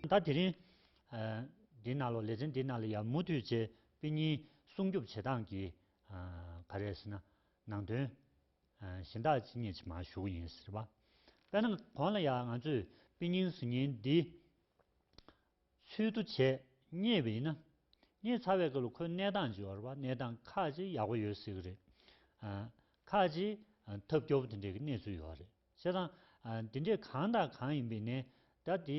ཟླ་དེ་རིང། འདི་ན་ལོ་ལེ་ཚན་འདི་ན་ལོ་ཡར་མུ་མཐུད་ཆེད་དཔེ་གཉིས་སྲུང་སྐྱོབ་བྱེད་སྟངས་ཀྱི། ག་རེ་ཟེར་ན། ནང་དོན། གཞན་དག་ཅི་རྙེད་ཅི་མ་ཞུགས་ཡིན་ཟེར་བ། དཔེར་ན་གོང་ལ་ཡང་ང་ཚོས་དཔེ་རྙིང་ཟུར་ཉན་འདི། ཚུལ་དུ་བྱས་རྙེད་པ་ཡིན་ན། རྙེད་ཚར་བའི་སྐབས་ལ་ཁོའི་གནས་སྟངས་ཇི་བར་བ་གནས་སྟངས་ཁག་ཅིག་ཡག་པོ་ཡོད་སྲིད་ཀྱི་རེད། ཁག་ཅིག་ཐབས་སྐྱོ་བོ་དེ་འདྲའི་གནས་ཚུལ་ཡོད་རེད། བྱས་ཙང། དེ་འདྲས་གང་དང་གང་ཡིན་པའི་ནས་དར་དེ།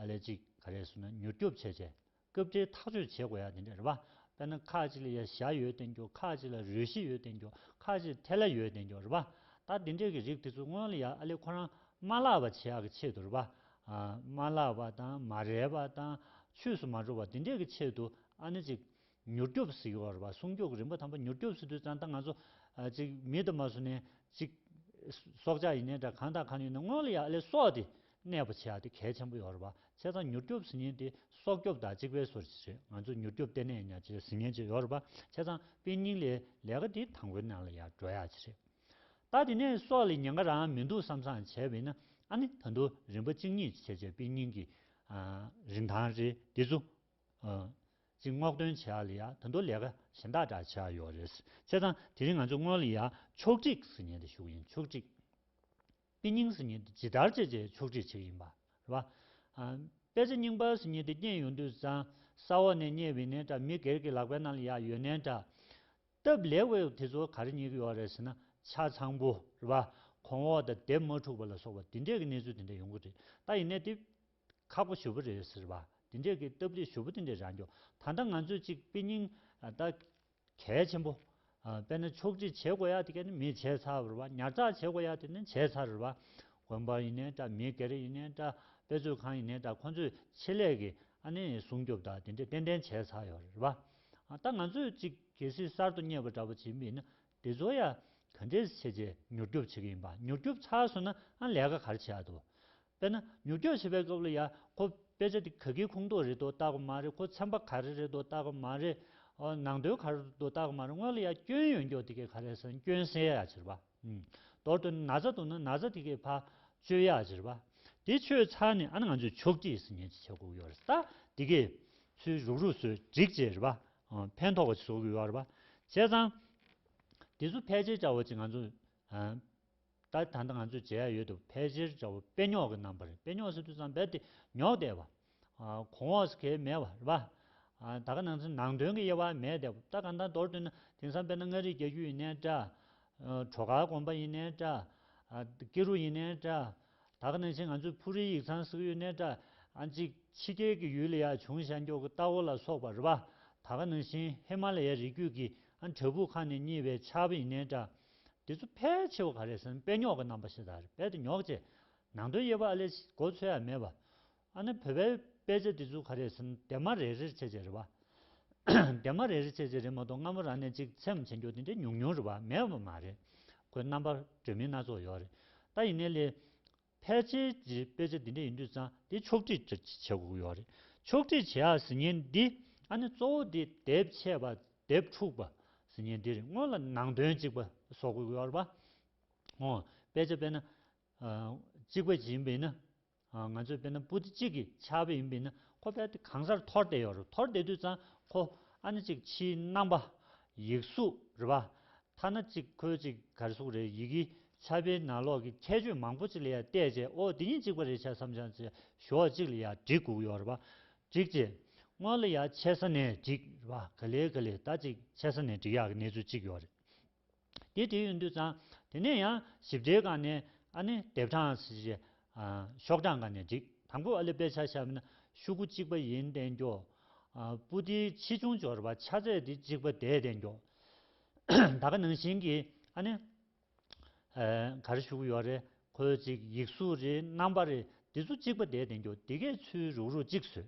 ལས་གཅིག་ག་རེ་བཟོས་ན་མྱུར་སྐྱོབ་བྱས་རྗེས། སྐབས་འཕྲལ་ཐག་གཅོད་བྱེད་དགོས་ཡ་དེ་འདྲས་རེད་པ། དཔེར་ན་ཁ་ཅིག་ལ་ཡ་བཞག་ཡོད་བསྟན་རྒྱུ་ཁ་ཅིག་ལ་རོལ་གཞི་ཡོད་བསྟན་རྒྱུ་ཁ་ཅིག་ཐལ་ལ་ཡོད་བསྟན་རྒྱུ་རེད་པ། ད་དེ་འདྲས་ཀྱི་རིགས་དེ་ཚོ་སྔོན་ལ་ཡ་ཨ་ལེ་ཁོ་རང་མ་ལགས་པ་བྱས་ཡག་གི་ཆེད་དུ་རེད་པ། མ་ལགས་པ་དང་མ་རེད་པ་དང་ཆོས་སུ་མ་འགྲོ་བ་དེ་འདྲས་ཀྱི་ཆེད་དུ་ཨ་ནེ་ཅིག་མྱུར་སྐྱོབ་ཟིག་བར་བ་སྲུང་སྐྱོག་རིམ་པ་དམ་པ་མྱུར་སྐྱོབ་སི་དུས་ཙང་ད་ང་ཚོ། ཅིག་མི་དུ་མ་སུ་ནས་ཅིག། སྲོག་ཆགས་ཡིན་ནས་འདྲ་གང་དང་གང་ཡིན་ནས་སྔོན་ལ་ཡག་ལས་སོགས་ཏེ་གནས་པ་ཆེ་ཡག་དེ་གལ་ཆེན་པོ་ཡོ་ར་བ་ཆེ་ཙང་མྱུར་སྐྱོབ་ཟི་ཉེན་དེ་སྲོག་སྐྱོབ་དང་ཅིག་པའི་སོར་ཅི་རེད་ང་ཚོ་མྱུར་སྐྱོབ་ལྟེ་གནས་ཡིན་ཡག་ཅི་རེད་ཟི་ཉེན་ཅི་ཡོ་ར་བ་ཆེ་ཙང་དཔེ་རྙིང་ལས་ལས་ཀ་དེ་དང་པོའི་ནང་ལ་ཡག་འགྲོ་ཡག་ཅི་རེད་ད་དེ་ནས་སོགས་ལས་ཉེན་ཁ་རང་མི་འདུག་བསམ་བསམ་བྱས་བས་ན་ཨ་ནི་ད་དུ་རིམ་པ་གཅིག་གཉིས་བྱས་བྱས་དཔེ་རྙིང་གི། རིན་ཐང་རེད་དེ་ཚོ། ཨང། ཅིག་སྔོག་འདོན་བྱས་ཡག་ལ་ཡ་དོན་དུ་ལས་ཀ་གཞན་དག་འདྲ་བྱས་ཡོག་རེད་བྱས་ཙང་དེ་རིང་ང་ཚོས་སྔོན་ལ་ཡ་ཕྱོགས་སྒྲིག་ཟི་ཉན་དེ་ཞུགས་ཡིན་ཕྱོགས་སྒྲིག་དཔེ་རྙིང་ཟི་ཉན་དེ་ཇི་ལྟར་བྱས་བྱས་ཕྱོགས་སྒྲིག་བྱས་ཡིན་པ་རེད་བ། ཨང། དཔེ་ཆ་རྙིང་པ་ཟི་ཉན་དེ་རྙེད་ཡོང་དུས་ཙང་ས་འོག་ནས་རྙེད་བི་ནན་འདྲ་མི་སྒེར་གི་ལག་པའི་ནང་ལ་ཡག་ཡོད་ནན་འདྲ། སྟབས་ལེགས་བས་དེ་ཚོ་ག་རེ་རྙེད་ཀྱི་ཡོག་རེད་ཟེར་ན་ཆ་ཚང་པོ་རེད་བ། གོང་འོག་དང་དེབ་མ་འཁྲུགས་པ་ལ་སོགས་པ་དེ་འདྲས་ཀྱི་གནས་ཚུལ་དེ་འདྲ་ཡོང་གི་རེད་ད་ཡིན་ནད་དེ་ཁག་པོ་ཞུ་བོ་རེད་ཟེར་བ་དེ་འདྲས་ཀྱི་སྟབས་ལེགས་ཞུ་བོ་དེ་འདྲས་རག་འགྱོ་ད་ལྟ་ང་ཚོས་ཅིག་དཔེ་རྙིང་ད་གལ་ཆེན་པོ་དཔེ་ན་ཕྱོགས་སྒྲིག་བྱེད་དགོ་ཡག་དེ་ག་ནི་མི་བྱས་ཚར་བར་བ་ཉར་ཚགས་བྱེད་དགོ་ཡག་དེ་ནི་བྱས་ཚར་བར་དགོན་པ་ཡིན་ནའི་ད་མི་སྒེར་ཡིན་ནའི་ད་དཔེ་མཛོད་ཁང་ཡིན་ནའི་ད་ཁོ་ཚོས་ཆེད་ལས་ཀྱི་ཨ་ནི་སྲུང་སྐྱོབ་ད་དེ་འདྲས་ཏན་ཏན་བྱས་ཚར་ཡོ་རེད་བ་ད་ང་ཚོས་ཅིག་གལ་སྲིད་གསར་དུ་རྙེད་པ་འདྲ་བོ་བྱེད་མི་ན་དེ་ཚོ་ཡ། ག་འདྲས་བྱས་རྗེས་མྱུར་སྐྱོབ་བྱེད་ཀྱི་ཡིན་པ་མྱུར་སྐྱོབ་ཚར་སོང་ན་ཨང་ལས་ཀ་གར་བྱེད་ཡག་འདུག། དཔེར་ན་མྱུར་སྐྱོབ་བྱེད་པའི་སྐབས་ལ་ཡ། ཁོ་དཔེ་ཆ་དེ་ག་གིའི་ཁུངས་གཏོགས་རེད་དོ་བལྟ་གི་མ་རེད་ཁོ་ཚན་པ་ག་རེ་རེད་དོ་བལྟ་གི་མ་རེད། ནང་དོན་ག་རེ་རེད་དོ་བལྟ་གི་མ་རེད་སྔོན་ལ་ཡ་སྐྱོན་ཡོན་འགྱོག་དེ་གས་ག་རེ་ཟེར་ན་སྐྱོན་སེལ་ཡག་བྱེད་རེད་པ། མདོར་དོན་ན་ན་ཚ་འདུག་ན་ན་ཚ་དེ་གས་ཕ། བཅོས་ཡག་བྱེད་རེད་པ། དེ་བཅོས་ཚར་ནས་ཨ་ན་ང་ཚོས་ཆོག་གྱིས་སི་ཉན་གྱིས་བྱེད་དགོས་ཀྱི་ཡོད་རེད་ད། དེ་གས། ཚུལ་རུག་རུག་བཟོས་འགྲིག་བྱེད་རེད་པ། ཕན་ཐོགས་པ་ཞིག་བཟོ་དགོས་པར་བྱས་ཙང། དེ་ཚོ་ཕལ་ཆེར་བྱ་བ་ཅིག་ང་ཚོ། ད་ད་ལྟ་ང་ཚོས་བྱས་ཡ་ཡོད་དུ་ཕལ་ཆེར་བྱ་བ་དཔེ་རྙོག་གི་རྣམ་པ་རེད་དཔེ་རྙོག་ཟེར་དུས་ཙང་རྦད་དེ་རྙོག་བསྡད་པ། གོང་འོག་ཟེར་གལ་མེད་པ་རེད་པ། ད་ག་ནང་ཚན་ནང་དོན་གྱི་དབྱེ་བ་མེད་བསྡད་པ་ད་ག་ད་མདོར་བསྡུས་ན་དེང་སང་དཔེར་ན་མངའ་རིས་རྒྱལ་རྒྱུད་ཡིན་ནའི་འདྲ། བྲོ་གར་དགོན་པ་ཡིན་ནའི་འདྲ། སྐྱིད་རུ་ཡིན་ནའི་འདྲ། ད་གནས་ཆེན་ང་ཚོའི་ཕུ་རིའི་ཡིག་ཚང་བསྲེགས་ཡུལ་གནས་གྲ་གཅིག་ཕྱི་རྒྱལ་གྱི་ཡུལ་ལ་ཡ་བྱུང་ཤར་མགྱོགས་ཀྱི་རྟ་བོ་ལ་སོགས་པ་རི་བ་ད་ག་ནང་བཞིན་ཧི་མ་ལ་ཡའི་རི་རྒྱུད་ཀྱི་འབྲས་བུ་ཁ་ནས་རྙེད་པའི་ཆར་བ་ཡི་གནས་གྲ་འདི་ཚོ་ཕལ་ཆེ་བ་ག་རེ་ཟེར་ན་དཔེ་རྙོག་གི་རྣམ་པ་ཞིག་དང་རེད་དཔེ་དེ་ཉོག་ཅེས་ནང་དོན་དབྱེ་བ་ཨ་ལས་ཀྱི་གོ་ཚོད་ཡང་མེད་པ་ཨ་ནི་བོད་པའི་དཔེ་ཆ་འདི་ཚོ་ག་རེད་ཟེར་ན་དེ་མ་རེད་རེད་བྱེད་བྱེད་རེད་བ། དེ་མ་རེད་རེད་བྱེད་བྱེད་རེད་མ་གཏོགས་སྔ་མོ་རང་ནས་ཅིག་འཚེམ་བྱེད་རྒྱུ་དེ་འདྲ་ཉུང་ཉུང་རེད་བ་མེད་བ་མ་རེད། ཁོའི་རྣམ་པར་བྲོས་མིན་སྣ་ཚོགས་ཡོད་རེད། ད་ཡིན་ནའི་ལས། ཕལ་ཆེར་གྱི་དཔེ་ཆ་འདི་འདྲ་ཡིན་དུས་ཙང་དེ་ཕྱོགས་བསྒྲིགས་བྱེད་དགོས་ཡོད་རེད། ཕྱོགས་བསྒྲིགས་བྱེད་ཡག་ཟེར་ཉེན་འདི་ཨ་ནི་གཙོ་བོ་འདི་དེབ་ཆད་པ་དེབ་འཁྲུགས་པ་ཟེར་ཉེན་འདི་རེད་སྔོན་ལ་ནང་དོན་གཅིག་པ་བཟོ་དགོས་ཡོད་རེད་བ། ཨོ། དཔེ་ཆ་དཔེར་ན། གཅིག་པ་ཇི་ཡིན་པ་ཡིན་ན། ང་ཚོས་དཔེར་ན་པུ་ཏི་གཅིག་གི་ཆ་བེད་ཡིན་པས་ན་ཁོ་དཔེ་དེབ་གང་སར་འཐོར་བསྡད་ཡོད་རེད་འཐོར་བསྡད་དུས་ཙང་ཁོ་ཨ་ནི་གཅིག་ཕྱིའི་རྣམ་པ། ཡིག་གཟུགས་རེད་པ། ཐ་ན་གཅིག་ཁོའི་གཅིག་གར་གཟུགས་རེད་ཡི་གེའི་ཆ་བེད་ནང་ལོག་གི་ཁྱད་ཆོས་མང་པོ་གཅིག་ལ་ཡར་བལྟས་རྗེས་ཨོ་དེ་གཉིས་གཅིག་པ་རེད་ཆ་བསམ་བྱང་ཆེ་ཞོག་གཅིག་ལ་ཡར་བསྒྲིགས་བསྒུགས་ཡོད་རེད་པ། བསྒྲིགས་རྗེས། སྔོན་ལ་ཡར་ཆེ་ས་ནས་བསྒྲིགས་རེད་པ་ག་ལེ་ག་ལེ་ད་གཅིག་ཆེ་ས་ནས་བསྒྲིགས་ཡག་གི་གནས་ཚུལ་གཅིག་ཡོད་རེད། དེ་དེ་ཡོད་འདུག་ཙང་དེ་ནས་ཡང་ཞིབ་ཕྲའི་སྒང་ནས་ཨ་ནི་དེབ་གྲངས་སུ་ཞེས་ཤོག་གྲངས་འགའ་ནས་བསྒྲིགས། དང་པོ་ཨ་ལི་དཔེ་ཆ་ཤར་མ་ཤུ་གུ་གཅིག་པ་ཡིན་བསྟན་འགྱོགས། པུ་ཏིའི་ཆེ་ཆུང་སྦྱོར་བ་ཆ་ཚད་དེ་གཅིག་པ་དེས་བསྟན་འགྱོགས། ད་ག་ནང་བཞིན་གྱི་ཨ་ནི་ག་རེ་ཤུ་གུ་ཡོག་རེ་ཁོལ་ཅིག་ཡིག་གཟུགས་རེའི་རྣམ་པ་རེ་དེ་ཚོ་གཅིག་པ་དེས་བསྟན་འགྱོགས་དེ་གས་ཚུལ་རུག་རུག་གཅིག་བཟོས།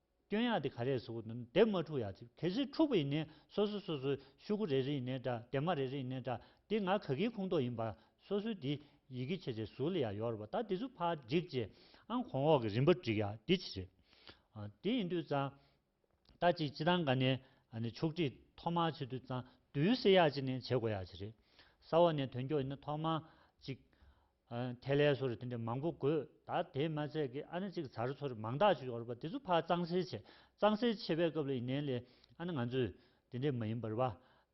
སྐྱོན་ཡག་དེ་ག་རེད་ཟེར་བ་དང་དེབ་མ་འཁྲུག་ཡག་ཅིག་གལ་སྲིད་འཁྲུག་པ་ཡིན་ནས་སོ་སོ་སོ་སོའི་ཤུ་གུ་རེ་རེ་ཡིན་ནས་འདྲ་དེབ་མ་རེ་རེ་ཡིན་ནས་འདྲ་དེ་ང་ག་གིའི་ཁུངས་གཏོགས་ཡིན་པ་སོ་སོའི་དེ་ཡི་གེ་ཆེ་ཆེ་ཟུར་ལ་ཡག་ཡོག་རེད་པ་ད་དེ་ཚུ་ཕར་འགྲིག་རྗེས་ཨང་གོང་འོག་གི་རིམ་པར་འགྲིག་ཡག་དེ་ཆེ་རེད། དེ་ཡིན་དུས་ཙང་ད་ཅིག་སྤྱི་ཐང་ག་ནས་ཕྱོགས་སྒྲིག་ཐོག་མར་བྱེད་དུས་ཙང་དུས་བསེ་ཡག་ཅིག་ནས་བྱེད་དགོས་ཡག་ཆེ་རེད། ས་འོག་ནས་དོན་འཁྱོག་ཡིན་ན་ཐོག་མར་ཅིག་ཐེ་ལེ་སོགས་རེ་དེ་འདྲ་མང་པོ་དགོས་ད་དེས་མ་ཚད་ཀི་ཨ་ན་གཅིག་ཚར་ཚོ་རེ་མང་དག་ཅིག་ཡོག་རེ་བ་དེ་ཚོ་ཕ་གཙང་སེལ་བྱས་གཙང་སེལ་བྱས་པའི་སྐབས་ལ་ཡིན་ནའི་ལེ་ཨ་ན་ང་ཚོས་དེ་འདྲས་མ་ཡིན་པར་རེ་བ་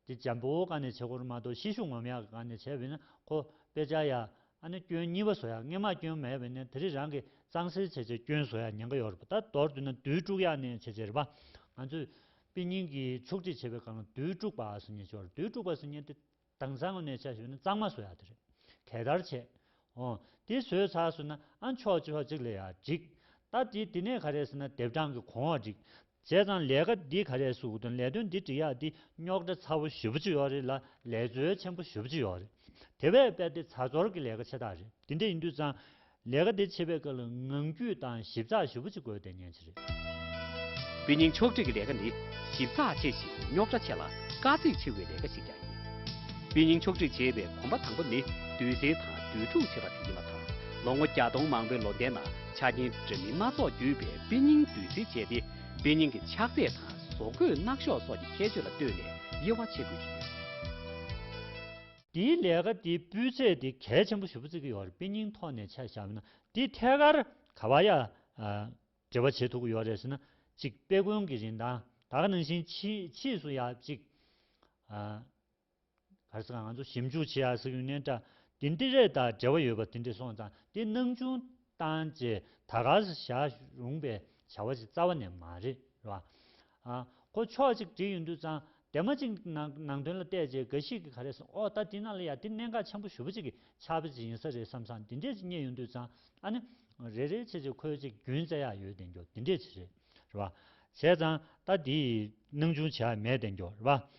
དེ་འཇམ་པོ་བོ་ག་ནས་བྱེད་དགོས་རེ་མ་གཏོགས་ཤེད་ཤུགས་ངོམ་ཡག་གི་ག་ནས་བྱས་བས་ན་ཁོ་པས་བྱ་ཡག་ཨ་ན་སྐྱོན་གཉིས་པ་བཟོ་ཡག་ངེད་མ་སྐྱོན་མེད་བས་ན་དེ་རེ་རང་གི་གཙང་སེལ་བྱས་བྱས་སྐྱོན་བཟོ་ཡག་ཉན་ག་ཡོག་རེ་བ་ད་མདོར་བསྡུ་ན་རྡུལ་དཀྲུག་ཡག་ནས་བྱས་བྱས་རེ་བ་ང་ཚོས་དཔེ་རྙིང་གི་ཕྱོགས་སྒྲིག་བྱས་པའི་གང་ལ་རྡུལ་དཀྲུག་པ་ཟེར་ཉན་བྱོ་རྡུལ་དཀྲུག་པ་ཟེར་ཉན་དེ་དྭངས་གཙང་མ་མེད་ཆ་ཞུ་ན་གཙང་མ་བཟོ་ཡག་དེ་རེད། གད་དར་ཆེ། འོ། དེ་བཟོས་ཚར་སོང་ན་ཨ་མཆོག་ཆོས་གཅིག་ལས་ཡག་འགྲིག། ད་དེ་དེ་ནས་ག་རེ་ཟེར་ན་དེབ་གྲངས་ཀྱི་གོང་འོག་བསྒྲིག། བྱས་ཙང་ལས་ཀ་འདི་ག་རེ་ཟུག་དོན་ལས་དོན་འདི་འགྲིག་ཡག་འདི་རྙོག་དྲ་ཚ་བོ་ཞི་བོ་ཅི་ཡོག་རེད་ལ་ལས་འཛོལ་ཆེན་པོ་ཞི་བོ་ཅི་ཡོག་རེད། དེ་བས་དཔེ་དེ་ཚ་ཚོར་གྱི་ལས་ཀ་ཆེ་ཐག་རེད་དེ་འདྲ་ཡིན་དུས་ཙང། ལས་ཀ་འདི་བྱེད་པའི་སྐབས་ལ་ངང་རྒྱུད་དང་ཞིབ་ཚགས་ཞུ་བོ་ཅིག་དགོས་བསྡད་ཉན་ཆེ་རེད། དཔེ་རྙིང་ཕྱོགས་སྒྲིག་གི་ལས་ཀ་ནི་ཞིབ་ཚགས་ཆེ་ཞིང་རྙོག་དྲ་ཆེ་ལ་དཀའ་ཚེགས་ཆེ་བའི་ལས་ཀ་ཞིག་ཀྱང་ཡིན། དཔེ་རྙིང་ཕྱོགས་སྒྲིག་བྱེད་པའི་གོམ་པ་དང་པོ་ནི་བསྡུས་གསེལ་དང་བསྡུས་སྒྲུག་བྱེད་པ་དེ་ཡིན་པ་དང་ལོ་ངོ་བརྒྱ་སྟོང་མང་པོའི་ལོ་ཟླའི་ནང་ཆ་རྐྱེན་འདྲ་མིན་སྣ་ཚོགས་བརྒྱུད་པའི་དཔེ་རྙིང་བསྡུས་གསེལ་བྱས་ཏེ་དཔེ་རྙིང་གི་ཆགས་ཚད་དང་བཟོ་བཀོད་སྣག་ཤོག་སོགས་ཀྱི་ཁྱད་ཆོས་ལ་ལྟོས་ནས་དབྱེ་བ་ཕྱེ་དགོས་ཀྱི་ཡོད། འདིའི་ལས་ཀ་འདི་སྤུས་ཚད་འདི་གལ་ཆེན་པོ་ཞུ་བརྩི་གི་ཡོད་རེད་དཔེ་རྙིང་ཐོག་ནས་ཆ་བཞག་ན་འདི་ཐད་ཀར་ག་བ་ཡ་འབྲེལ་བ་བྱེད་ཐུབ་གི་ཡོད་རེད་ཟེར་ན་ཅིག་དཔེ་དགོན་གི་རིན་ཐང་དག་ནང་བཞིན་ཕྱིས་སུ་ཡ་ཅིག་ག་རེ་ཟེར་ང་ཚོ་ཞིབ་འཇུག་བྱེད་ཡ་ཟེར་ཡུན་ནན་ཏྲ་འདི་འདི་རེད་ད་འབྲེལ་བ་ཡོད་པ་འདི་འདྲི་སོང་ཙང་འདི་སྣང་ཆུང་བཏང་རྗེས་ད་ག་ཟེ་བཞག་རུང་པའི་བྱ་བ་ཞིག་རྩ་བ་ནས་མ་རེད་རེད་བ། ཨ། ཁོ་ཕྱོགས་གཅིག་བྲིས་ཡོད་འདུག་ཙང་དེ་མ་གཅིག་ནང་དོན་ལ་བལྟས་རྗེས་འགའ་ཞིག་གིས་ག་རེ་གསུངས་ཨོ་ད་དེ་ན་ལ་ཡ་དེ་གནད་འགག་ཆེན་པོ་ཞུ་བ་གཅིག་གི་ཕྱག་དཔེ་གཅིག་ཡིན་ས་རེད་བསམ་སང་དེ་འདྲས་ཅིག་རྙེད་ཡོད་འདུག་ཙང་ཨ་ནི། རེད་རེད་ཆེ་ཆེ་ཁོའི་ཅིག་རྒྱུན་བཙལ་ཡག་ཡོད་བདེན་རྒྱོ་དེ་འདྲས་ཅིག་རེད་རེད་བ། བྱས་ཙང་ད་དེ་ཡི་སྣང་ཆུང་བྱས་ཡག་མེད་བདེན་རྒྱོ་རེད་བ།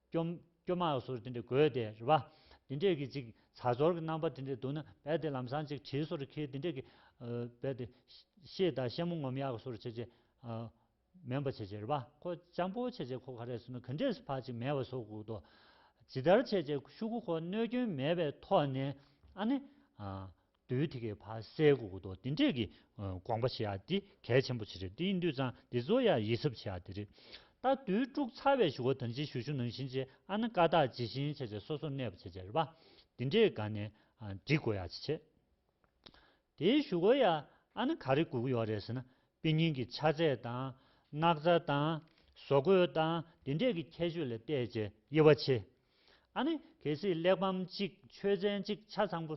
སྐྱོམ། སྐྱོ་མ་ཡོག་སོགས་དེ་འདྲས་དགོས་ཏེ་རེད་པ། དེ་འདྲས་ཀྱི་ཅིག་ཚ་སྦྱོར་གྱི་རྣམ་པ་དེ་འདྲས་འདུག་ན་རྦད་དེ་ལམ་སང་ཅིག་བྲིས་སོ་རེ་ཁྱེད་དེ་འདྲས་ཀྱི། རྦད་དེ། ཤེས་དང་ཤེས་མོ་ངོམ་ཡག་གི་སོ་རེ་བྱེད་ཅེ། མེན་པ་བྱེད་ཅེ་རེད་པ་ཁོ་སྤྱང་པོ་བྱེད་ཅེ་ཁོ་ག་རེ་སོ་ན་ག་འདྲས་སུ་ཕ་ཅིག་མེད་པ་སོགས་གུག་ཏོ། ཇི་ལྟར་བྱེད་ཅེ་ཤུ་གུ་ཁོ་གནོད་སྐྱོན་མེད་པའི་ཐོག་ནས་ཨ་ནི། འདུལ་དེ་གའི་བར་སའི་གོ་གོ་ཏོ་དེ་འདྲས་ཀྱི་དགོངས་པ་བྱེད་ཡག་འདི་གལ་ཆེན་པོ་ཆེ་རེད་འདི་ཡིན་དུས་ཚང་འདི་ཚོ་ཡང་ཡིད་ཟབ་བྱེད་ཡག་དེ་རེད་ད་དུས་དཀྲུག་ཚར་བའི་ཞུ་བ་དང་ཅི་ཞུ་ཞུ་ནང་བཞིན་བྱེད་ཨ་ན་ཀ་དག་ཇི་བཞིན་བྱས་བྱས་སོ་སོར་གནས་པ་བྱས་བྱས་རེད་པ་འདི་འདྲས་དགའ་ནས་འབྲི་དགོས་ཡག་ཆེ་ཆེ། དེའི་ཞུ་བ་ཡང་ཨ་ན་ག་རེ་དགོས་ཀྱི་ཡོད་རེད་ཟེར་ན་དཔེ་རྙིང་གི་ཆ་ཚད་དང། སྣག་ཚ་དང། བཟོ་བཀོད་དང་དེ་འདྲས་ཀྱི་ཁྱད་ཆོས་ལ་བལྟས་བྱས་དབྱེ་བ་ཕྱེ། ཨ་ན་གལ་སྲིད་གླེགས་བམ་གཅིག་ཆོས་ཚན་གཅིག་ཆ་ཚང་པོ་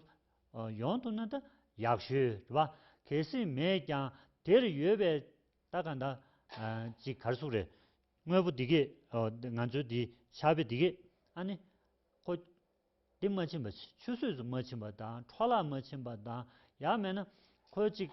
ཡོང་ཐུབ་ན་ད་ཡག་ཤོས་རེད་བ། གལ་སྲིད་མེད་ཀྱང་དེར་ཡོད་པའི་ལྟ་ག་འདྲ་ཅིག་གར་སོང་རེད། དངོས་པོ་འདི་གས་ང་ཚོའི་འདི་ཆ་བོད་འདི་གས་ཨ་ནི། ཁོ། འདི་མ་ཕྱིན་པ་ཆུ་ཟོས་སུ་མ་ཕྱིན་པ་དང་འཕྲོ་བརླག་མ་ཕྱིན་པ་དང་ཡག་མེད་ན་ཁོ་ཅིག།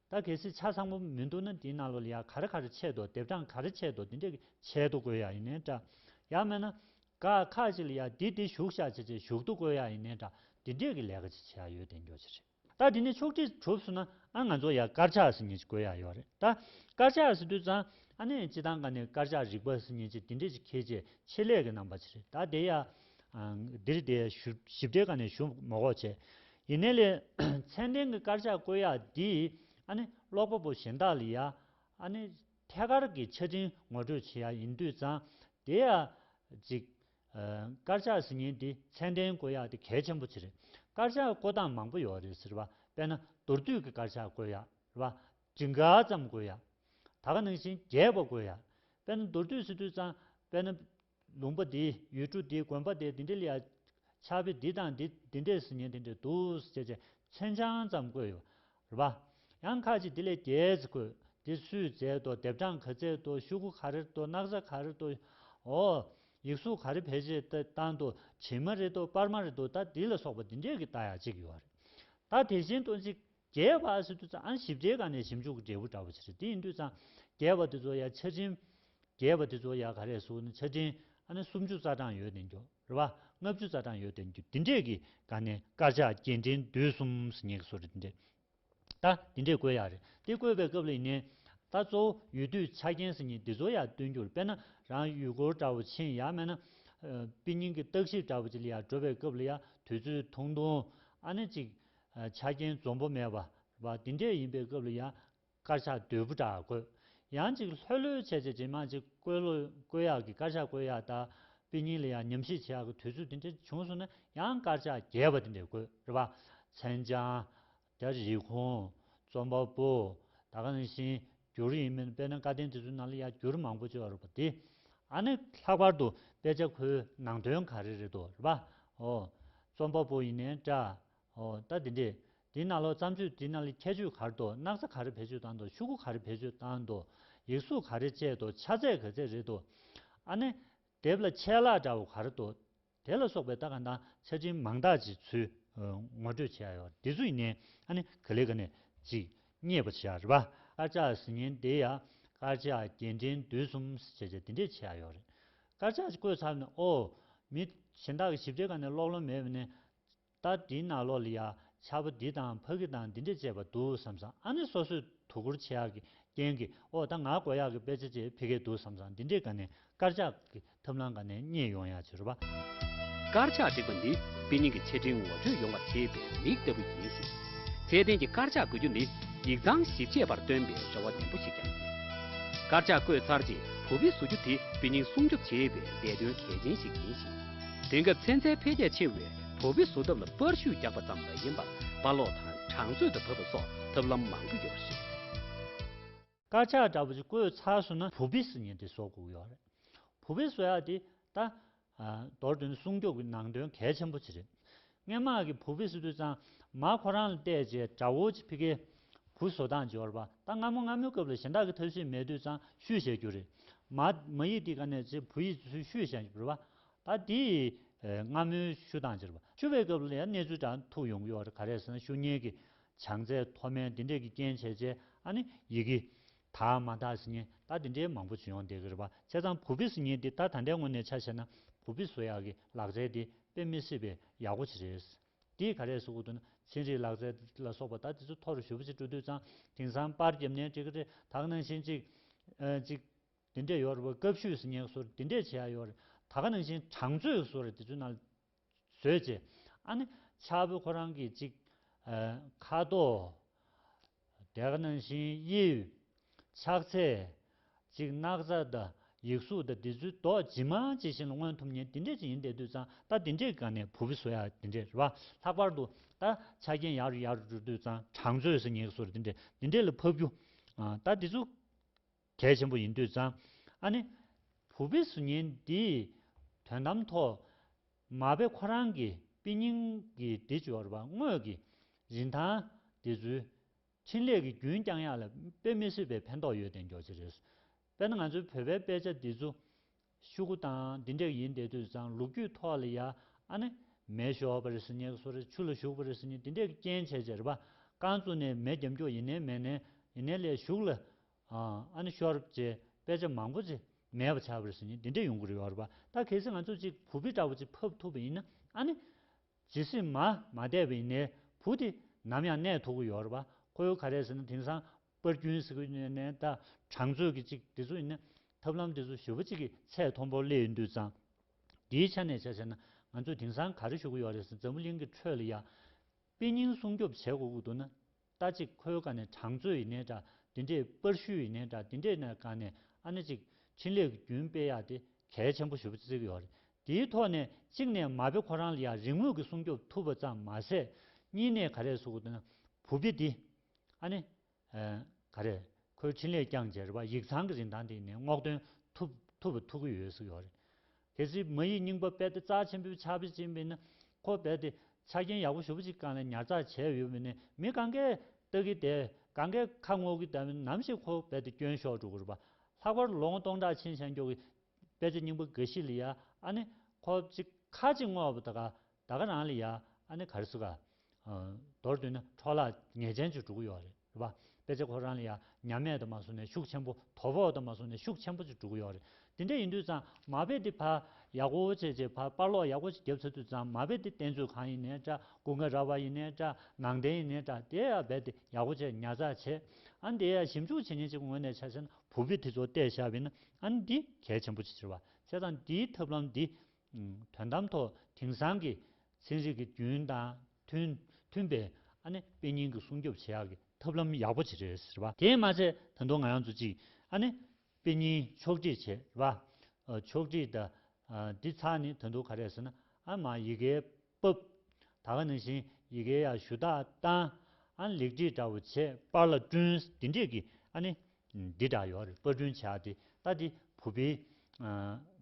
ད་གལ་སྲིད་ཆ་ཚང་པོ་མི་འདུག་ན་དེའི་ནང་ལོ་ལི་ཡ་ག་རེ་ག་རེ་ཆད་དོ་དེབ་གྲངས་ག་རེ་ཆད་དོ་དེ་འདྲས་ཆད་དུ་དགོས་ཡ་ཡིན་ནའི་འདྲ། ཡང་མེད་ན། ག་ཁ་ཅིག་ལ་ཡ་དེ་དེ་བཞུགས་ཤག་ཅེས་ཅེས་བཞུགས་དུ་དགོས་ཡ་ཡིན་ནའི་འདྲ་དེ་འདྲས་ཀྱི་ལས་ཀ་ཅིག་བྱེད་ཡ་ཡོད་དེ་མགྱོགས་ཅིག་རེད། ད་དེ་ནས་ཕྱོགས་བསྒྲིགས་གྲུབ་སོང་ན་ཨ་ང་ཚོ་ཡ་དཀར་ཆག་ཟེར་ཉེན་ཅིག་དགོས་ཡ་ཡོད་རེད་ད། དཀར་ཆག་ཟེར་དུས་ཙང་ཨ་ནེ་སྤྱི་བཏང་ག་ནས་དཀར་ཆག་རིག་པ་ཟེར་ཉེན་ཅིག་དེ་འདྲས་ཅིག་ཁྱེད་ཅེས་ཆེད་ལས་ཀྱི་གནང་པ་ཅིག་རེད་ད་དེ་ཡ། འདིར་དེ་ཞིབ་ཕྲའི་ག་ནས་ཞུ་མགོ་ཁོག་བྱས། ཡིན་ནའི་ལེ། མཚན་ལྡན་གྱི་དཀར་ཆག་བཀོད་ཡག་འདིས་ཨ་ནི་ཀློག་པ་པོ་གཞན་དག་ལ་ཡ་ཨ་ནི་ཐད་ཀར་གྱི་ཆ་འཕྲིན་ངོ་སྤྲོད་བྱེད་ཡག་ཡིན་དུས་ཙང་དེ་ཡ་གཟིགས། དཀར་ཆག་ཟིན་ཉིན་དེ་མཚན་ལྡན་བཀོད་ཡག་དེ་གལ་ཆེན་པོ་ཆེ་རེད། དཀར་ཆག་བཀོད་སྟངས་མང་པོ་ཡོད་རེད་ཟེར་བ་དཔེ་ན་མདོར་བསྡུས་ཀྱི་དཀར་ཆག་བཀོད་ཡག་རེད་བ། བྲི་འགའ་ཙམ་བཀོད་ཡག། ད་ག་ནང་བཞིན་རྒྱས་པ་བཀོད་ཡག། དཔེ་ན་མདོར་བསྡུས་ཟེར་དུས་ཙང་དཔེ་ན། ལུང་པ་འདིའི་ཡུལ་གྲུ་འདི་དགོན་པ་དེ་འདི་འདྲ་ལས། ཆགས་པའི་འདི་དང་འདི་འདི་འདྲས་སུ་ཉིན་འདི་འདྲས་འདུག་ཅེས་ཅེས་མཚོན་བྱང་ཙམ་བཀོད་ཡོད་པ། ཡང་ཁ་ཅིག་འདི་ལས་རྒྱས་ཚེ་བཀོད་འདི་སུས་མཛད་དོ་ལྡེབ་གྲངས་ག་མཛད་དོ་ཤུག་གུ་ག་རེར་དོ་སྣག་ཚ་ག་རེར་དོ། ཨོ། ཡིག་གཟུགས་ག་རེ་བེད་སྤྱད་དེ་བཏང་དོ་བྱིན་མ་རེ་དོ་སྤར་མ་རེ་དོ་ད་འདི་ལ་སོགས་པ་འདི་འདྲས་ཀྱི་རྟགས་ཡང་གཅིག་ཡོད་རེད། ད་དེ་བཞིན་དུ་གཅིག། རྒྱས་པ་ཨ་སི་དུ་ཙང་ཞིབ་ཕྲའི་སྒང་ནས་ཞིབ་འཇུག་གི་འབྲས་བུ་འདྲ་བོ་ཆེ་རེད་དེ་ཡིན་དུས་ཙང་རྒྱས་པ་དེ་ཚོ་ཡང་ཆ་འཕྲིན། རྒྱས་པ་དེ་ཚོ་ཡང་ག་རེ་སུ་ནི་ཆ་འཕྲིན་ཨ་ནི་སུམ་ཅུ་རྩ་གྲངས་ཡོད་དེ་འགྱུར་རེད་བ་ལྔ་བཅུ་རྩ་གྲངས་ཡོད་དེ་འགྱུར་དེ་འདྲས་ཀྱི་སྒང་ནས་དཀར་ཆག་སྐྱེལ་འདྲེན་བསྡུས་གསུམ་སུ་ཉེ་གི་སུ་རེད་དེ་འདྲས་ད་དེ་འདྲས་བཀོད་ཡག་རེད་དེ་བཀོད་པའི་སྐབས་ལ་ཡིན་ནའི་ད་གཙོ་བོ་ཡུལ་དུས་ཆ་རྐྱེན་སུ་ཉེ་དེ་ཚོ་ཡང་སྟོན་རྒྱུར་དཔེར་ན་རང་ཡུལ་སྐོར་འདྲ་བོ་ཆེན་ཡང་མེད་ན། དཔེ་རྙིང་གི་བརྟག་ཞིབ་འདྲ་བོ་ཅིག་ལ་ཡང་འགྲོ་བའི་སྐབས་ལ་ཡང་དུས་ཚོད་ཐུང་ཐུང་ཨ་ནི་ཅིག་ཆ་རྐྱེན་འཛོམས་པོ་མེད་པ་འདི་འདྲས་ཡིན་པའི་སྐབས་ལ་ཡང་དཀར་ཆག་དོད་པོ་བསྒྲག་དགོས། ཡང་ཅིག་ལྷོད་ལྷོད་ཆད་ཆད་ཇེ་མང་ཇེ་བཀོད་བཀོད་ཡག་གི་དཀར་ཆག་བཀོད་ཡག་དག་པི་གཉིས་ལ་ཡང་ཉམས་ཞིབ་བྱེད་ཡག་གི་དུས་ཚོད་འདི་འདྲ་བྱུང་སོང་ན་ཡང་དཀར་ཆག་རྒྱས་པ་འདི་འདྲས་དགོས་རེད་པ། མཚན་བྱང། དེ་རིགས་ཁུངས། རྩོམ་པ་པོ། ད་ག་ནས་བཞིན་འགྱུར་ཡིན་མིན་དཔེར་ན་བཀའ་བསྟན་དེ་ཚོའི་ནང་ལ་ཡང་འགྱུར་མང་པོ་བཅོས་རོགས་པ་དེ། ཨ་ནི་ལྷག་པར་དུ་དཔེ་ཆ་ཁོའི་ནང་དོན་ག་རེ་རེད་དོ་རེད་པ། འོ། རྩོམ་པ་པོ་ཡིན་ནའི་འདྲ། ཨོ་ད་དེ་འདྲས་འདི་ན་ལོ་བརྩམས་ཆོས་འདི་ན་ལི་ཁྱད་ཆོས་ག་རེ་དོ་སྣག་ཚ་ག་རེ་བེད་སྤྱོད་བཏང་དོ་ཤུ་གུ་ག་རེ་བེད་སྤྱོད་བཏང་དོ་ཡིག་གཟུགས་ག་རེ་སྤྱད་དོ་ཆ་ཚད་ག་ཚད་རེད་དོ། ཨ་ནི། དེབ་ལ་ཆད་ལག་འདྲ་བོ་ག་རེ་དོ། དེ་ལ་སོགས་པའི་ལྟ་ག་དང་ཆ་འཕྲིན་མང་དག་ཅིག་ཚུལ་ངོ་སྤྲོད་བྱས་ཡོད་རེད་འདི་ཚོ་ཡིན་ནའི་ཨ་ནི་ག་ལེ་ག་ནས་ཅིག་རྙེད་པ་བྱས་རེད་པ། དཀར་ཆག་ཟི་ཉན་དེ་ཡ་དཀར་ཆག་རྒྱན་འདྲེན་དུས་གསུམ་ཟེར་བྱས་དེ་འདྲས་བྱས་ཡོད་རེད་དཀར་ཆག་ཅིག་བཀོད་ཚར་ནས་ཨོ། མི་གཞན་དག་གི་ཞིབ་ཕྲའི་ག་ནས་ཀློག་ལོང་མེད་པ་ནས་ལྟ་འདི་ན་ལོ་ལི་ཡ་ཆ་བོ་འདི་དང་ཕ་གི་དང་འདི་འདྲས་བཅས་པ་འདུག་བསམ་སང་ཨ་ནི་སོ་སོས་དོ་ཁུར་བྱེད་ཡག་གི་རྐྱེན་གི་འོག་ད་ང་གོ་ཡག་གི་དཔེ་ཆ་བཅས་ཕི་གེ་འདུག་བསམ་སང་འདི་འདྲས་ག་ནས་དཀར་ཆག་གི་ཐབས་ལང་ག་ནས་རྙེད་ཡོང་ཡག་བྱེད་རོགས་པ། དཀར་ཆག་བསྒྲིགས་པ་ནི་དཔེ་རྙིང་གི་ཆ་འཕྲིན་ངོ་སྤྲོད་ཡོང་བར་བྱེད་པའི་མིག་ལྟ་བུ་ཡིན་ཞིང། ཚད་ལྡན་གྱི་དཀར་ཆག་འགོད་རྒྱུ་ནི་ཡིག་ཚང་བཞི་བཅས་པར་སྟོན་པའི་རེ་བ་ནན་པོ་ཞིག་ཀྱང་ཡིན། དཀར་ཆག་བཀོད་ཚར་རྗེས་བུ་དཔེ་བཟོ་རྒྱུ་དེ་དཔེ་རྙིང་སྲུང་སྐྱོབ་བྱེད་པའི་འདས་དོན་གལ་ཆེན་ཞིག་ཡིན་ཞིང། དེང་སྐབས་ཚན་རྩལ་འཕེལ་རྒྱས་ཆེ་བས་བོ་བི་བཟོ་ཐབས་ལ་པར་ཤུལ་རྒྱག་པ་ཙམ་མ་ཡིན་པར་པར་སློག་དང་གྲངས་མཛོད་དུ་བབས་པ་སོགས་ཐབས་ལམ་མང་པོ་ཡོད་པ་རེད། དཀར་ཆག་འདྲ་པོ་ཞིག་བཀོད་ཚར་སོང་ན་བོ་བི་བཟོ་ཉིན་དེ་ཟོག་གོ་གི་ཡོད་རེད། བོ་བི་བཟོ་ཡག་འདི་ད། མདོར་བསྡུས་ན་སྲུང་སྐྱོབ་ཀྱི་ནང་དོན་གལ་ཆེན་པོ་ཆེ་རེད། སྔས་མག་གི་བུ་བི་སི་ཏུ་གཙང་མ་ཁོ་རང་ལ་གཏད་རྗེས་དགྲ་བོ་ཆི་བྷི་ཀའི་བུ་བཟོ་སྟངས་འབྱོར་བ་ད་སྔ་མོ་སྔ་མོའི་སྐབས་ལ་གཞན་དག་གི་ཐབས་ཤེས་མེད་དུས་གཙང་བཤུས་བྱས་རྒྱུ་རེད། མ་ཡིག་དེ་ག་ནས་ཆི་བྷི་ཡིས་ཚུལ་བཤུས་བྱས་འབྱོར་བ། ད་དེ་ཡི་སྔ་མོའི་བཤུས་སྟངས་འབྱོར་བ་བཤུ་བའི་སྐབས་ལ་ཡང་གནས་ཚུལ་དྲང་ཐུག་ཡོང་གི་ཡོད་རེད་ག་རེ་ཟེར་ན་བཤུ་ཉེས་ཀྱི་བྱང་ཚད་མཐོ་དམན་དེ་འདྲས་ཀྱི་རྐྱེན་བྱས་རྗེས་ཨ་ནི་ཡི་གེ་དག་མ་དག་སི་ཉེ་ད་དེ་འདྲའི་མང་པོ་བྱུང་ཡོང་འདི་གི་རེད་པ་བྱས་ཙང་བུ་བི་སི་ཉེ་འདི་ད་ད་འདའི་ངོ་ནས་ཆ་བཤད་ན་བུ་བི་སོ་ཡག་གི་ལག་རྩལ་དེ་དཔེ་མི་སི་བའི་ཡག་པོ་ཆི་རེད་དེའི་ག་རེ་སི་འུ་དུ་ན་ཚན་རིག་ལག་རྩལ་ལ་སོགས་པ་ད་དེ་ཚོ་ཐོ་རུ་ཞུ་བ་ཆི་སྤྲོ་དུས་ཙང་དེང་སང་པར་རྒྱབ་ནས་ཀྲི་ཀ་ཀྲི་དག་ནང་བཞིན་ཅིག་ཅིག་དེ་འདྲས་ཡོད་རེད་བ་སྐབས་ཤུད་སི་ཉེ་སོར་དེ་འདྲས་བྱས་ཡོད་རེད་ད་ག་ནང་བཞིན་གྲངས་ཚོད་སོར་དེ་ཚོའི་ནང་བཟོས་བྱས། ཨ་ནི། ཕྱག་བུ་ཁོ་རང་གིས་ཅིག། ཁ་དོག། དེ་ཁ་ན་བཞིན་དབྱིབས། ཕྱག་འཚལ། ཅིག་སྣག་ཚ་དང་ཡིག་གཟུགས་དང་དེ་ཚུལ་མདོག་ཇི་མ་ཇི་བཞིན་ལ་མངོན་ཐུབ་ཉིན་དེ་འདྲས་ཅིག་ཡིན་དེ་དུས་ཙང་ད་དེ་འདྲས་ག་ནས་བུ་བུ་བཟོ་ཡ་དེ་འདྲས་རེད་བ། ལྷག་པར་དུ། ད་ཆ་རྒྱན་ཡག་རུ་ཡག་རུ་འགྲོ་དུས་ཙང་གྲངས་བཟོས་ཟེར་ཉེ་ག་སོར་དེ་འདྲས་དེ་འདྲས་ལ་ཕབ་རྒྱུ། ད་དེ་ཚུ། གལ་ཆེན་པོ་ཡིན་དུས་ཙང་ཨ་ནེ། བུ་པི་སུ་ཉིན་འདིའི་དོན་དམ་ཐོག་མ་པེ་ཁོ་རང་གི་པི་སྙིང་གི་འདི་འབྱོར་བ་དངོས་ཀྱི་རིན་ཐང་འདི་ཚུལ་ཕྲིན་ལས་ཀྱི་རྒྱུན་བསྐྱང་ཡག་ལ་པེ་མི་སྲིད་པའི་ཕན་ཐོག་ཡོད་དེ་མགྱོགས་ཅི་རེད་པེ་ན་ང་ཚོའི་བོད་པའི་དཔེ་ཆ་འདི་ཚུ་ཤུ་གུ་དང་འདི་འདྲས་ཡིན་དེ་དུས་ཙང་ལུག་རྒྱུད་ཐོག་ལ་ཡ་ཨ་ནེ་མེ་ཤོར་པ་རེད་སི་ཉེ་ག་སོ་རེད་ཆུ་ལ་ཞུགས་པ་རེད་སི་ཉེ་འདི་འདྲས་ཀྱི་རྐྱེན་བྱས་རྗེས་ར་པ་རྐང་བཙུགས་ནས་མེ་རྒྱབ་མགྱོགས་ཡིན་ནའི་མེ་ནའི་ཡིན་ནའི་ལས་ཞུགས་ལ་ཨ་ནི་ཤོར་ཅེས་དཔེ་ཆ་མང་པོ་ཅིག་མེད་པ་བྱ་བར་ཟིན་ནས་འདི་འདྲས་ཡོང་གི་རེད་བར་པ་ད་གལ་སྲིད་ང་ཚོས་ཅིག་བུ་བི་འདྲ་བོ་ཅིག་ཕབ་ཐུབ་པ་ཡིན་ན་ཨ་ནི། ཇི་སྲིད་མ་མ་བསྡད་པ་ཡིན་ནའི་བུ་དེ་ནམ་ཡང་གནས་ཐུབ་ཀི་ཡོད་རེད་བ་ཁོ་ག་རེ་ཟེར་ན་དེང་སང་པར་རྒྱུན་ཟེར་གི་ཡོད་ནའི་ད་གྲངས་ཚོད་ཀི་ཅིག་འདི་ཚོ་ཡིན་ན་ཐབས་ལམ་འདི་ཚོ་བཞི་བ་ཅིག་གི་ཚད་མཐོན་པོར་སླེབས་ཡོད་འདུག་ཙང་འདིའི་ཆ་ནས་བྱ་བྱས་ན་ང་ཚོས་དེང་སང་ག་རེ་ཞུ་གི་ཡོད་རེད་ཟེར་འཛམ་བུ་གླིང་གི་ཁྲོད་ལ་ཡང་དཔེ་རྙིང་སྲུང་སྐྱོབ་བྱེད་དགོས་ཀི་འདུག་ན། ལྟ་ཅིག་ཁོའི་ག་ནས་གྲངས་ཚོད་ཡི་ནས་འདྲ་དེ་འདྲས་པར་ཤུལ་ཡི་ནས་འདྲ་དེ་འདྲས་ནས་ག་ནས་ཨ་ན་ཅིག་ཕྲིན་ལས་ཀྱི་རྒྱུན་སྤེལ་ཡག་དེ་གལ་ཆེན་པོ་ཞུ་བརྩིགས་ཡོད་རེད་དེའི་ཐོག་ནས་གཅིག་ནས་མ་དཔེ་ཁོ་རང་ལ་ཡང་རིག་དངོས་ཀྱི་སྲུང་སྐྱོབ་ཐུབ་པ་ཙམ་མ་ཟད་གཉིས་ནས་ག་རེ་སུ་ག་ན་བུ་དཔེ་འདི་ཨ་ནི་ག་རེ་ཁོའི་ཕྲིན་ལས་བསྐྱངས་རྗེས་རེ་བ་ཡིག་ཚང་གི་རིན་ཐང་དེ་ཡི་ནས་སྔོག་འདོན་ཐུབ་ཐུབ་པ་ཐུགས་ཡོད་བརྩིགས་ཡོད་རེད་གལ་སྲིད་མི་ཡིས་རྙིང་པ་དཔལ་ཏེ་རྩ་ཆེན་པོའི་ཕྱག་དཔེ་བཅིངས་པས་ན། ཁོ་རྦད་དེ། ཆ་རྐྱེན་ཡག་པོ་ཞུ་བ་ཅིག་བཀང་ནས་ཉར་ཚགས་བྱས་ཡོད་པས་ན་མི་གང་གཱའི་སྟག་གིས་དེད། གང་གཱའི་ཁ་སྔོག་གིས་བལྟ་བས་ནམ་ཞིག་ཁོ་རྦད་དེ་སྐྱོན་ཤོར་འགྲོ་གི་རེད་པ། ལྷག་པར་ལོ་ངོ་སྟོང་ཕྲག་ཕྱིན་ཤར་མགྱོགས་ཀྱི། དཔལ་ཆ་རྙིང་པ་འགའ་ཞིག་ལ་ཡ་ཨ་ནི། ཁོ་གཅིག་ཁ་གཅིག་སྔོག་པ་དགའ། ད་ག་རང་ལ་ཡ་ཨ་ནི་ག་རེ་སུ་ག། མདོར་བསྡུས་ན་འཕྲོ་བརླག་ངེས་ཅན་ཅིག་འགྲོ་གི་ཡོད་རེད་རེད་པ། དཔེ་ཆ་ཁོ་རང་ལ་ཡ་ཉམས་མེད་དུ་མ་སོང་ནས་ཤུགས་ཆེན་པོ་དོ་ཕོག་དུ་མ་སོང་ནས་ཤུགས་ཆེན་པོ་ཅིག་འགྲོ་གི་ཡོད་རེད། དེ་འདྲ་ཡིན་དུས་ཙང་མ་དཔེ་འདི་ཕར་ཡག་པོ་བྱེད་ཅེས་ཕར་དཔར་ལོག་ཡག་པོ་ཅིག་རྒྱབ་ཚར་དུས་ཙང་མ་དཔེ་འདི་བསྟན་ཚུལ་གང་ཡིན་ནའི་འདྲ་སྐུ་འགའ་ར་བ་ཡིན་ནའི་འདྲ་ནང་བསྟན་ཡིན་ནའི་འདྲ་དེ་ཡང་རྦད་དེ་ཡག་པོ་བྱས་ཉར་ཚགས་བྱས་ཨ་ནི་དེ་ཡང་ཞིབ་འཇུག་བྱེད་ཉིན་ཅིག་ངོས་ནས་ཆ་བྱས་ན་བུ་དཔེ་དེ་ཚོ་བལྟས་ཤ་བས་ན་ཨ་ནི་འདི་གལ་ཆེན་པོ་ཅིག་ཆེ་བ་བྱས་ཙང་འདིའི་ཐབས་ལམ་འདི་དོན་དམ་ཐོག་དེང་སང་གི་ཚན་རིག་གི་རྒྱུན་དང་མཐུན་པའི་དཔེ་རྙིང་གི་སྲུང་སྐྱོབ་བྱེད་ཡག་གི་ཐབས་ལམ་ཡག་པོ་བྱེད་རེད་ཟེར་བ། དེས་མ་ཚད་ད་དུང་ང་རང་ཚོ་ཅིག་དཔེ་རྙིང་ཕྱོགས་བསྒྲིགས་བྱས་རེད་བ། ཕྱོགས་བསྒྲིགས་ད་འདི་ཚགས་ནི་ད་དུང་ག་རེད་ཟེར་ན་ཨ་མ་ཡི་གེའི་སྤོབས། ད་ག་ནས་བཞིན་ཡི་གེ་ཡག་ཞུ་དག་བཏང། ཨ་ལེགས་བྲིས་འདྲ་བོ་བྱེད་པར་ལ་བསྐྲུན། འདི་འདྲས་ཀྱི་ཨ་ནི་འདི་འདྲ་ཡོད་རེད་པར་བསྐྲུན་བྱས་ཏེ་ལྟ་འདི་བུ་པའི་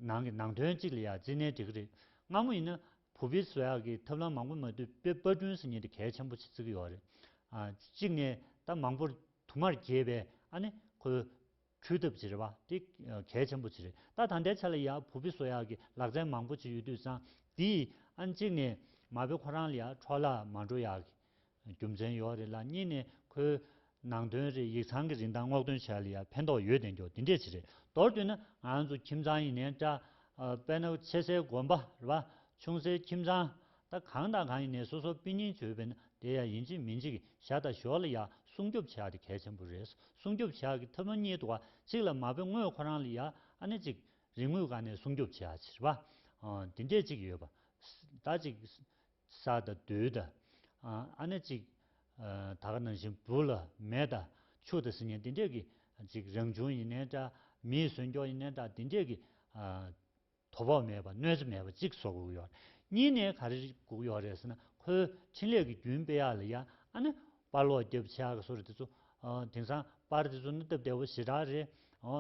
ནང་གི་ནང་དོན་གཅིག་ལ་ཡ་རྩི་ནས་འབྲི་གི་རེད་སྔ་མོ་ཡིན་ན་བུ་པའི་བཟོ་ཡག་གི་ཐབས་ལམ་མང་པོ་མ་བཏུས་པའི་པར་བསྐྲུན་སྲིད་ཉེས་དེ་གལ་ཆེན་པོ་ཆེ་བརྩི་གི་ཡོད་རེད། གཅིག་ནས་ད་མང་པོར་དུ་མར་གྱེས་པས་ཨ་ནི་ཁོའི་འཕྲུལ་ཐབས་བྱེད་རེ་བ་དེ་གལ་ཆེན་པོ་བྱེད་རེ་ད་ད་ལྟའི་ཆ་ལ་ཡང་བུ་ཕི་སོ་ཡག་གི་ལག་རྩལ་མང་པོ་བྱེད་ཡོད་དུས་སང་དེ་ཨ་གཅིག་ནས་མ་བི་ཁོ་རང་ལ་ཡང་འཕྲོ་བརླག་མ་འགྲོ་ཡག་གི་རྒྱུ་མཚན་ཡོག་རེ་ལ་གཉིས་ནས་ཁོའི་ནང་དོན་རེ་ཡིག་ཚང་གི་རིན་ཐང་སྔོག་འདོན་བྱས་ལ་ཡང་ཕན་ཐོག་ཡོད་བདེན་འགྱོག་དེ་འདྲས་བྱེད་རེ་མདོར་བསྡུས་ན་ང་ཚོ་ཁྱིམ་ཚང་ཡིན་ནའི་འདྲ་དཔེར་ན་ཆེ་སའི་དགོན་པ་རེ་བ་ཆུང་སའི་ཁྱིམ་ཚང་ད་གང་དང་གང་ཡིན་ནས་སོ་སོ་དཔེ་རྙིང་བརྗོད་པས་ན་དེ་ཡང་ཡིན་གཅིག་མིན་གཅིག་ཞག་དང་ཞོར་ལ་ཡང་སྲུང་སྐྱོབ་བྱ་དེ་གལ་ཆེན་པོ་རེད་སྲུང་སྐྱོབ་བྱ་གི་ཐབས་ལམ་གཉིས་འདུག་གཅིག་ལ་མ་དཔེ་དངོས་ཁོ་རང་ལ་ཡང་ཨ་ནེ་གཅིག་རིག་དངོས་གང་ནས་སྲུང་སྐྱོབ་བྱ་ཕྱིར་བ་འདི་འདྲས་གཅིག་ཡོད་པ་ད་གཅིག་ས་དང་རྡུལ་དང་ཨ་ནེ་གཅིག་ད་ག་ནང་བཞིན་བུ་ལ་མེ་དང་ཆུ་དང་སིལ་སྙན་འདི་འདྲས་ཀྱིས་གཅིག་རང་བྱུང་ཡིན་ནའི་འདྲ་མིའི་གཟོན་སྐྱོང་ཡིན་ནའི་འདྲ་འདི་འདྲས་ཀྱིས། དོ་ཕོག་མེད་པར་གནོད་འཚེ་མེད་པར་གཅིག་གསོ་དགོས་ཀྱི་ཡོད་རེད། གཉིས་ནས་ག་རེ་སྒུག་ཡོད་རེད་ཟེར་ན་ཁོའི་འཕྲིན་ལས་ཀྱི་རྒྱུན་སྤེལ་ཡག་ལ་ཡ་ཨ་ནི་དཔར་ལོག་རྒྱབ་ཕྱེ་ཨག་གསོ་རེད་དེ་ཚོ། དེང་སང་དཔར་དེ་ཚོ་ནི་སྟབས་བདེ་བོ་ཞེ་དྲག་རེད།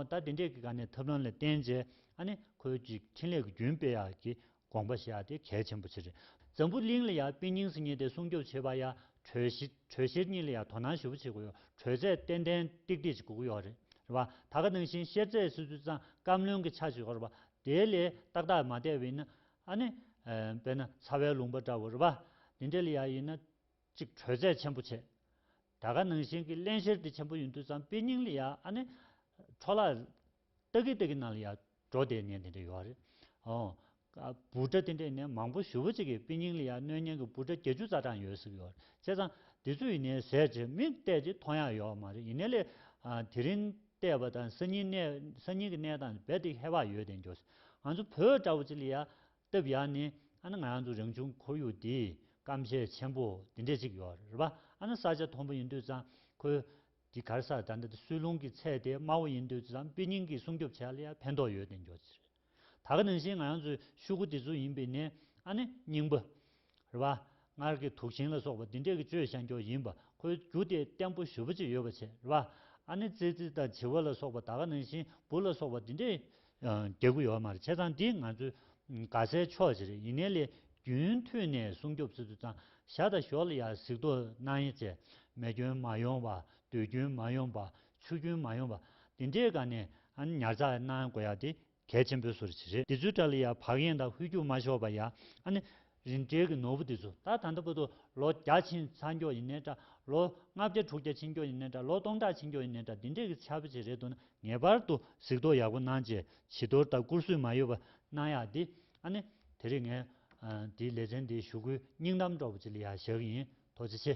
ད་དེ་འདྲས་ཀྱི་སྒ་ནས་ཐབས་ལམ་ལ་བརྟེན་རྗེས་ཨ་ནི་ཁོའི་ཅིག་འཕྲིན་ལས་ཀྱི་རྒྱུན་སྤེལ་ཡག་གི་དགོངས་པ་བཞེས་ཡག་དེ་གལ་ཆེན་པོ་ཆེ་རེད། འཛམ་བུ་གླིང་ལ་ཡ་དཔེ་རྙིང་སེ་རྙེད་དེ་སྲུང་སྐྱོབ་བྱེད་པ་ཡ་གྲོས་གཞི། གྲོས་གཞིར་གཉིས་ལ་ཡང་དོ་སྣང་ཞུ་བ་བྱེད་དགོས་ཡོད། གྲོས་ཚད་ཏན་ཏན་ཏིག་ཏིག་ཅིག་དགོས་ཀྱི་ཡོད་རེད་བ། ད་ག་ནང་བཞིན་བཤེར་རྩད་སུས་སུས་གཙང་བཀའམ་བློན་གྱི་ཆ་ཞིག་ཡོད་རེད་བ། དེའི་ལས་ཏག་ཏག་མ་བསྡད་བས་ན། ཨ་ནི། བས་ན་ཚ་བའི་ལུང་པ་འདྲ་བོ་རེད་བ། དེ་འདྲ་ལ་ཡང་ཡིན་ན། གཅིག་གྲོས་ཚད་ཆེན་པོ་བྱེད། ད་ག་ནང་བཞིན་གྱི་བརླན་བཤེར་དེ་ཆེན་པོ་ཡིན་དུས་ཙང་དཔེ་རྙིང་ལ་ཡང་ཨ་ནི། འཕྲོ་བརླག། ཏག་གི་ཏག་གི་ནང་ལ་ཡང། འགྲོ་བདེ་ནས་དེ་འདྲ་ཡོད་རེད། འབུ་ཕྲ་དེ་འདྲ་ནས་མང་པོ་ཞུ་བོ་ཅིག་གི་པི་ཉིང་ལི་ཡ་གནོད་ཉེན་གི་འབུ་ཕྲ་བརྒྱད་ཅུ་རྩ་གྲངས་ཡོད་ཟིག་ཡོད་རེད་བྱས་ཙང་དེ་ཚོ་ཡིན་ནའི་ཟས་བྱས་མིག་བལྟས་ཀྱི་མཐོང་ཡག་ཡོད་མ་རེད་ཡིན་ནའི་ལས་དེ་རིང་བལྟས་པ་དང་སང་ཉིན་གནས་སང་ཉིན་གི་གནས་སྟངས་རྦད་དེ་ཧེ་བག་ཡོད་དེ་འགྱོ་ང་ཚོ་བོད་འདྲ་བོ་ཅིག་ལི་ཡ་སྟབས་ཡག་ནི་ཨ་ན་ང་ཚོ་རང་བྱུང་ཁོར་ཡུག་འདིའི་སྐམ་ཤས་ཆེན་པོ་དེ་འདྲ་ཅིག་ཡོད་རེད་པ་ཨ་ན་ས་ཆ་མཐོན་པོ་ཡིན་དུས་ཙང་ཁོའི་གྱི་གར་སར་ད་ལྟ་དུ་སུས་ལུང་གི་ཚད་དེ་དམའ་བོ་ཡིན་དུས་ཙང་དཔེ་རྙིང་གིས་སྲུང་སྐྱོབ་བྱས་ལ་ཡང་ཕན་ཐོགས་ཡོད་བདེན་འགྱོག་ཅི་རེད། ད་ག་ནང་བཞིན་ང་ཡང་ཚོའི་ཤུག་གུ་དེ་ཚོ་ཡིན་པས་ནས་ཨ་ནི་སྙིང་པོ། རེད་པ། སྔར་གྱི་དུག་ཤིང་ལ་སོགས་པ་འདི་འདྲས་ཀྱི་བཅོས་བྱ་འགྱོག་ཡིན་པ་ཁོའི་རྒྱུ་དེ་བརྟན་པོ་ཞུ་བ་ཅིག་ཡོད་པ་བྱས་རེད་པ། ཨ་ནི་ཙི་ཙི་དང་བྱི་བ་ལ་སོགས་པ་ད་ག་ནང་བཞིན་བུ་ལ་སོགས་པ་འདི་འདྲས་རྒྱ་དགུ་ཡོད་མ་རེད་བྱས་ཙང་འདི་ང་ཚོའི་དགའ་སའི་ཕྱོགས་ཞིག་རེད་ཡིན་ནའི་ལས་རྒྱུན་མཐུད་ནས་སྲུང་སྐྱོབ་བྱེད་དུ་ཙང་ཞག་དང་ཞོར་ལ་ཡར་གཟིགས་རྡོ་གནང་ཡིན་ཚེ་མེ་སྐྱོན་མ་ཡོང་བ་རྡུལ་སྐྱོན་མ་ཡོང་བ་ཆུ་སྐྱོན་མ་ཡོང་བ་འདི་འདྲའི་སྒང་ནས་ཉར་ཚགས་གནང་དགོས་ཡག་འདི་གལ་ཆེན་པོའི་སུ་རེད་འདི་ཚོའི་དགྲ་ལ་ཡར་བག་གཡེང་དང་ཧུད་རྒྱུགས་མ་ཤོར་བ་ཡག་ཨ་ནི། རིན་བྲལ་གྱི་ནོར་བུ་དེ་ཚོ་ད་ད་ལྟ་བོད་དུ་ལོ་བརྒྱ་ཕྱིན་ཚར་མགྱོགས་ཡིན་ནའི་འདྲ། ལོ་ལྔ་བརྒྱ་དྲུག་བརྒྱ་ཕྱིན་མགྱོགས་ཡིན་ནའི་འདྲ་ལོ་སྟོང་ཕྲག་ཕྱིན་མགྱོགས་ཡིན་ནའི་འདྲ་འདི་འདྲའི་གི་ཆ་བོ་ཆེ་རེད་འདུག་ན་ངེས་པར་དུ་གཟིགས་རྟོག་ཡག་པོ་གནང་རྗེས་བྱི་དོར་དང་བཀུར་བཟོས་མ་ཡོད་པ་གནང་ཡག་འདི་ཨ་ནི། དེ་རིང་ངས་འདིའི་ལེ་ཚན་འདི་ཞུ་སྒོའི་སྙིང་གཏམ་འདྲ་བོ་ཅིག་ལ་ཡང་བཞག་གི་ཡིན་ཐོག་ཆེ་ཆེ།